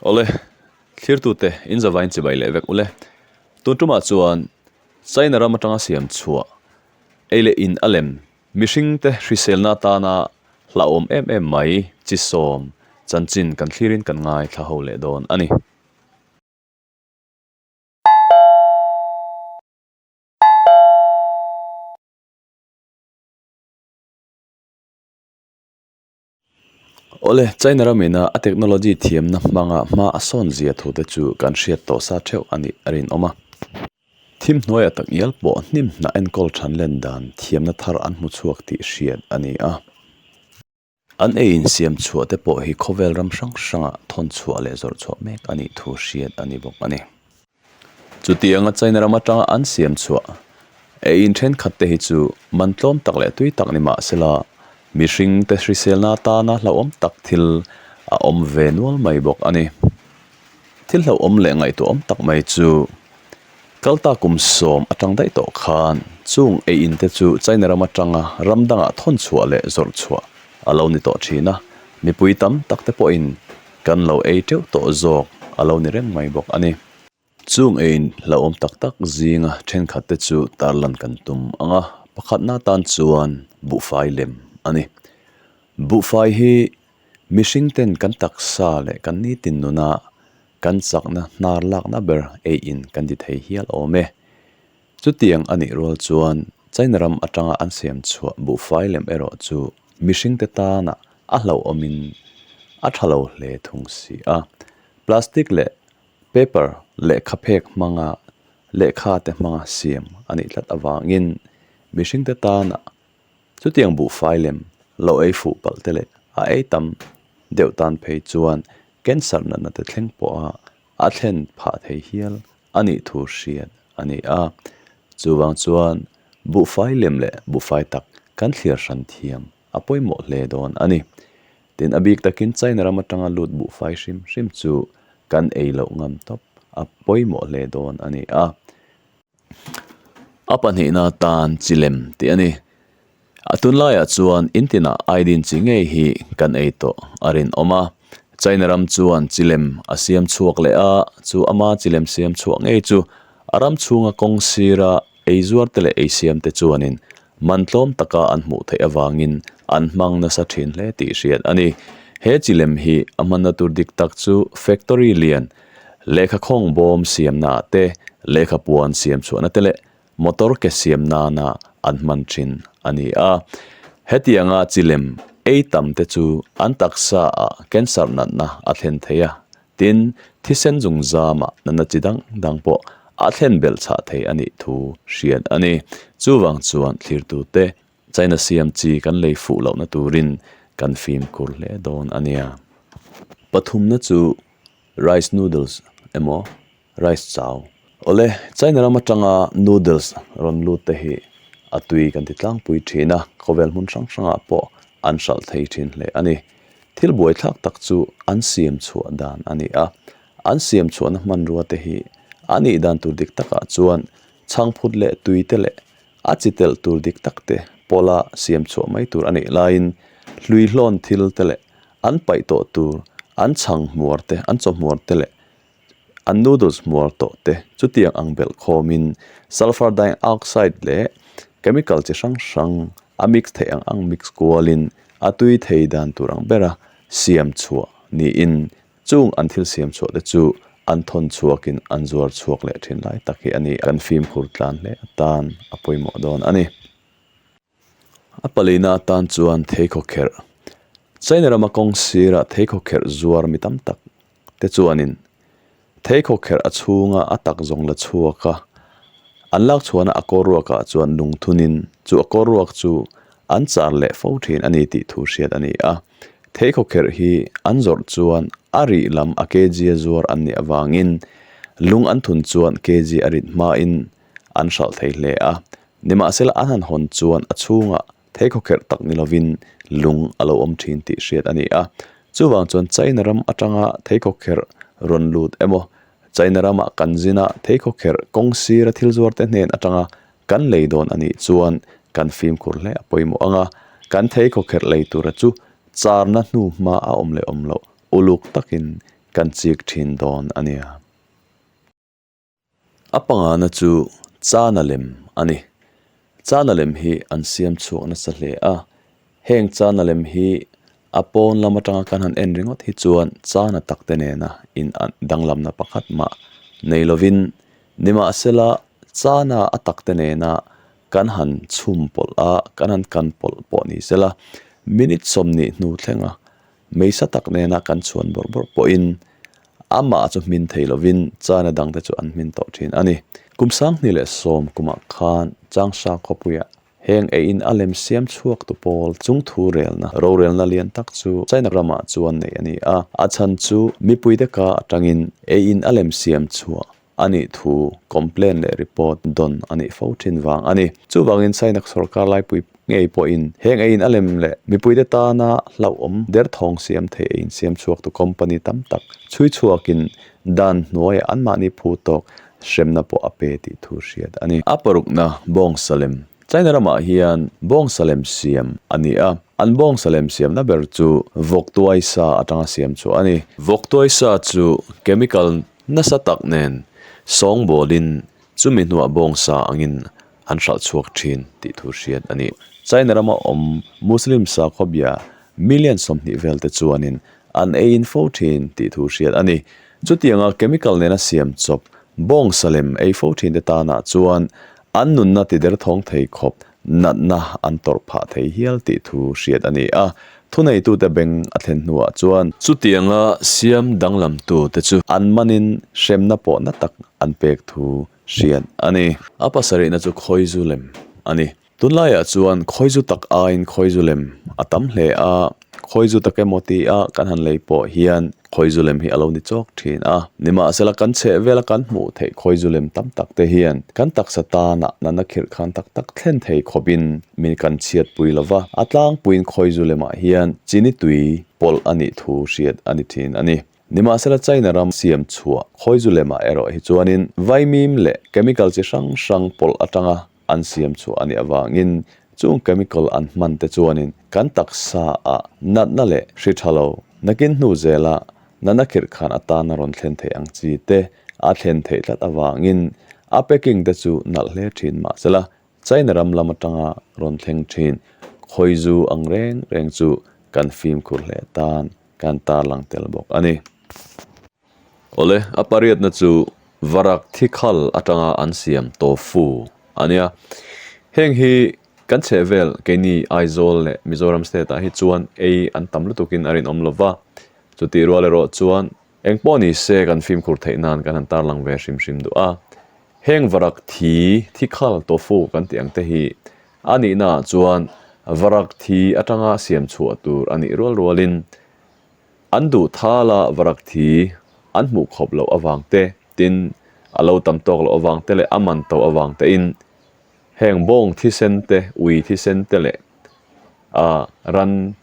Awle, thlirtute in zava in chibai leh vek ule. Tun tumah chuan China ram atanga siam chhuah ei leh in a lem mihringte hriselna atana hlahawm em em mai chi sawm chanchin kan thlirin kan ngaithla leh dawn a ni. Awle, China ram ina a technology thiamna hmanga hma a sawn zia thu te chu kan hriat tawh sa theuh a nih a rinawm a. Thim hnuaia tak ial pawh hnim hnah enkawl than len dan thiamna thar an hmu chhuak tih hriat a ni a. An ei insiam chhuah te pawh hi khawvel ram hrang hranga thawn chhuah leh zawrh chhuah mek a nih thu hriat a ni bawk a ni. Chutianga China ram atanga an siam chhuah ei in thenkhat te hi chu man tlawm tak leh tui tak ni mah se la, mihring te hriselna atana hlauhawm tak thil a awm ve nual mai bawk a ni. Thil hlauhawm leh ngaihtuahawm tak mai chu Kalta kum sawm atang daih tawh khan chung ei in te chu China ram atanga ram dangah thawn chhuah leh zawrh chhuah a lo ni tawh thin a, mipui tam tak te pawhin kan lo ei teuh tawh zawk a lo ni reng mai bawk a ni. Chung ei in hlauhawm tak tak zinga thenkhat te chu tarlan kan tum ang a, pakhatna tan chuan buhfai lem a ni. Buhfai hi Mihring ten kan taksa leh kan nitin nuna kan chakna hnar lakna ber ei in kan ti thei hial awm e. Chutiang a nih rual chuan China ram atanga an siam chhuah buhfai lem erawh chu mihring te tanah a hlauhawm in a tha lo hle thung si a. Plastic leh paper lehkha phek hmanga lehkha te hmanga siam a nih tlat avangin mihring te tanah Chutiang buhfai lem lo ei fuh palh te leh a ei tam deuh tan phei chuan cancer natna te thleng pawha a thlen phah thei hial a nih thu hriat a ni a. Chuvang chuan buhfai lem leh buhfai tak kan thlir hran thiam a pawimawh hle dawn a ni. Tin, a bik takin China ram atanga lut buhfai hrim hrim chu kan ei loh ngam tawp a pawimawh hle dawn a ni a. a pahnihna tan chi lem tih a ni a tun laiah chuan in tinah ai din chi ngei hi kan ei tawh a rinawm a china ram chuan chi lem a siam chhuak leh a chu ama chi lem siam chhuah ngei chu a ram chhunga kawng sira eizuar te leh eisiam te chuanin-- man tlawm taka an hmuh theih avangin an hmang nasa thin hle tih hriat a ni. He chi lem hi a hmanna tur dik tak chu factory lian, lehkha khawng bawm siamnaah te, lehkha puan siam chhuahna te leh motor ke siam nana an hman thin a ni a. Hetianga chi lem ei tam te chu an taksa ah cancer natna a thlen thei a Tin, thisen zungzama nana chi dang dang pawh a thlen belh chhah thei a nih thu hriat a ni. Chuvang chuan thlirtute China siam chi kan lei fuh lohna turin kan fimkhur hle dawn a nia. Pathumna chu rice noodles emaw rice chau. Awle, China ram atanga noodles rawn lut te hi a tui kan ti tlangpui thin a, khawvel hmun hrang hrangah pawh an hralh thei thin hle a ni. Thil buai thlak tak chu an siam chhuah dan a ni a, an siam chhuahna hmanrua te hi a nih dan tur dik takah chuan chhangphut leh tui te leh a chi telh tur dik tak te pawla siam chhuah mai tur a nih laiin hlui hlawn thil te leh an paih tawh tur an chhang hmuar te, an chaw hmuar te leh an noodles muar tawh te chutiang ang belh khawmin sulphur dioxide leh chemical chi hrang hrang a mix theih ang ang mix kualin a tui thei dan tur ang bera siam chhuah niin chung an thil siam chhuah te chu an thawn chhuakin an zuar chhuak leh thin lai tak hi a ni kan fimkhur tlan hle atan a pawimawh dawn a ni. A paleina atan chuan thei khaw kherh China rama kawng sirah thei khaw kherh zuar mi tam tak te chuanin thei khaw kherh a chhunga a tak zawng la chhuak a. An lak chhuahna a kawl ruakah chuan nung thunin chu a kawl ruak chu an char leh fo thin a ni tih thu hriat a ni a. Thei khaw kherh hi an zawrh chuan a rih lam a kg a zuar an nih avangin lung an thun chuan kg a rit hmain an hralh thei hle a, nimahsela an han hawn chuan a chhunga thei khawkherh tak ni lovin lung a lo awm thin tih hriat a ni a. Chuvang chuan China ram atanga thei khawkherh rawn lut emaw, China ramah kan zina thei khawkherh kawng sira thil zuarte hnen atanga kan lei dawn a nih chuan kan fimkhur hle a pawimawh ang a, kan thei khawkherh lei tura chu charna hnu hma a awm leh awm loh uluk takin kan chik thin dawn a nia. A pangana chu chana lem a ni. Chana lem hi an siam chhuak nasa hle a. Heng chana lem hi a pawn lam atanga kan han en ringawt hi chuan chana takte nena in an danglamna pakhat mah nei lovin, nimahsela chana a takte nena kan han chhum pawlh a, kan han kan pawlh pawh ni sela, minute sawmnih hnu thlenga, Hmeisa tak nena kan chuan bawrh bawrh pawhin amah chu hmin thei lovin chana dangte chu an hmin tawh thin a ni. Kum Sanghni leh Sawmkumah khan Changsha khawpuia heng eiin a lem siam chhuak tu pawl chung thu relna, rorelna lian tak chu China ramah chuan neih a ni a. A chhan chu mipui deka atangin eiin a lem siam chhuah a nih thu complain leh report dawn a nih fo thin vang a ni. Chuvangin Sainak sorkar laipui ngei pawhin heng eiin a lem leh mipuite tana hlauhawm derthawng siam thei eiin siam chhuak tu company tam tak chhui chhuakin dan hnuaiah anmahni phu tawk hremna pawh a pe tih thu hriat a ni. A parukna bawng sa lem China ramah hian bawng sa lem siam a ni a, an bawng sa lem siamna ber chu vawk tuaisa atanga siam chhuah a ni. Vawk tuaisa chu chemical Nasa tak nen sawngbawlin chumi hnuah bawng sa angin an hralh chhuak thin tih thu hriat a ni. China rama awm Muslim sakhawbia million sawmhnih vel te chuanin an ei in fo thin tih thu hriat a ni. Chutianga chemical nena siam chawp bawng sa lem ei fo thin te tana chuan an nunna ti der thawng thei khawp natna an tawrh phah thei hial tih thu hriat a ni a, thuneitute beng a thlen hnuah chuan. Chutianga siam danglamtute chu an manin hremna pawh na tak an pek thu hriat a ni. A pasarihna chu khawizu lem a ni. Tunlaiah chuan khawizu tak aiin khawizu lem a tam hle a. khawi zu tak emaw ti a kan han lei pawh hian khawi zu lem hi a lo ni chawk thin a nimahsela kan chheh vel a kan hmuh theih khawi zu lem tam tak te hian kan taksa tana nana khirh khan tak tak thlen thei khawp in min kan chhiat pui lo va a tlangpuiin khawi zu lemah hian chini tui pawlh a nih thu hriat a ni thin a ni. Nimahsela China ram siam chhuah khawi zu lemah erawh hi chuanin vaimim leh chemical chi hrang hrang pawlh atanga an siam chhuah a nih avangin chung chemical an hman te chuanin kan taksa a natna leh hri tha lo nakin hnu zela nana khirh khan atana rawn thlen thei ang chi te a thlen theih tlat avangin a packing te chu nalh hle thin mahsela China ram lam atanga rawn thleng thin khawi zu ang reng reng chu kan fimkhur hle tan kan tarlang tel bawk a ni. Awle, a pariatna chu varak thikhal atanga an siam tofu a nia. Heng hi kan chhehvel keini Aizawl leh Mizoram state-ah hi chuan ei an tam lutukin a rinawm lo va, chutihrual erawh chuan Engpawh nise kan fimkhur theih nan kan han tarlang ve hrim hrim duh a. Heng varak thi, thikhal, tofu kan tih ang te hi a nih naah chuan varak thi atanga siam chhuah tur a nih rual rualin an duh thal a varak thi an hmuh khawp loh avang te tin a lo tam tawk loh avang te leh a man tawh avang tein Heng bawng thisen te, ui thisen te leh a ran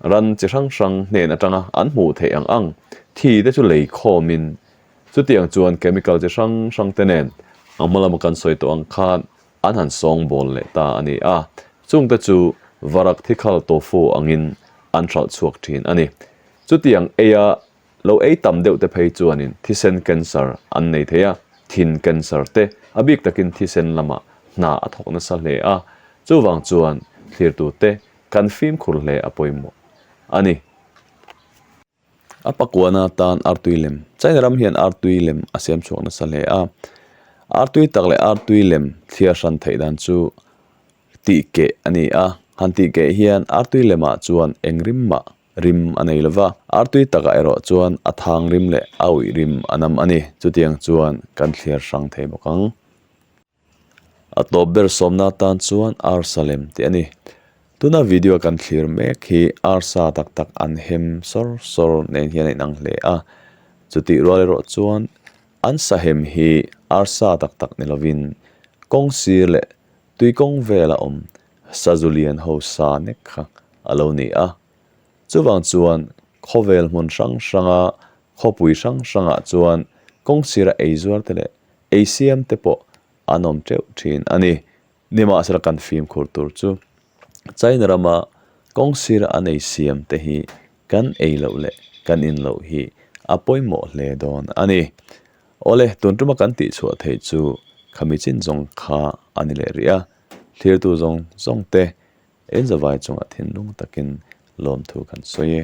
ran chi hrang hrang hnen atanga an hmuh theih ang ang. Thi te chu lei khawm in chutiang chuan chemical chi hrang hrang te nen a hma lama kan sawi tawh ang khan an han sawng bawl leh ta a ni a. Chung te chu varak thikhal tofu angin an hralh chhuak thin a ni. Chutiang eia Lo ei tam deuhte phei chuanin thisen cancer an nei thei a, thin cancer te. A bik takin thisen lama hna a thawk nasa hle a, chuvang chuan thlirtute kan fimkhur hle a pawimawh a ni. A pakuana tan artui lem, China ram hian artui lem a siam chhuak nasa hle a, artui tak leh artui lem thliar hran theih dan chu tihkeh a ni a, han tihkeh hian artui lemah chuan eng rim mah Rim a nei lova, artui takah erawh chuan a thang rim leh a ui rim a nam a ni. Chutiang chuan kan thliar hrang thei bawk ang. A tawp ber sawmna atan chuan arsa lem teh a ni. Tuna video kan thlir mek hi arsa tak tak an hem sawr sawr nen hian a inang hle a. Chutih rual erawh chuan an sahem hi arsa tak tak ni lovin kawng sir leh tui kawng vel a awm Sazulian ho sa nek kha a lo ni a, chuvang chuan khawvel hmun hrang hranga, khawpui hrang hrangah chuan kawng sira eizuarte leh eisiamte pawh an awm teuh thin a ni. Nimahsela kan fimkhur tur chu China rama kawng sira an ei siam te hi kan ei loh leh kan in loh hi a pawimawh hle dawn a ni. Awle, tun tuma kan tihchhuah theih chu khamichin zawng kha a ni leh rih a. Thlirtu zawng zawngte Elzavai chungah thinlung takin lawmthu kan sawi e.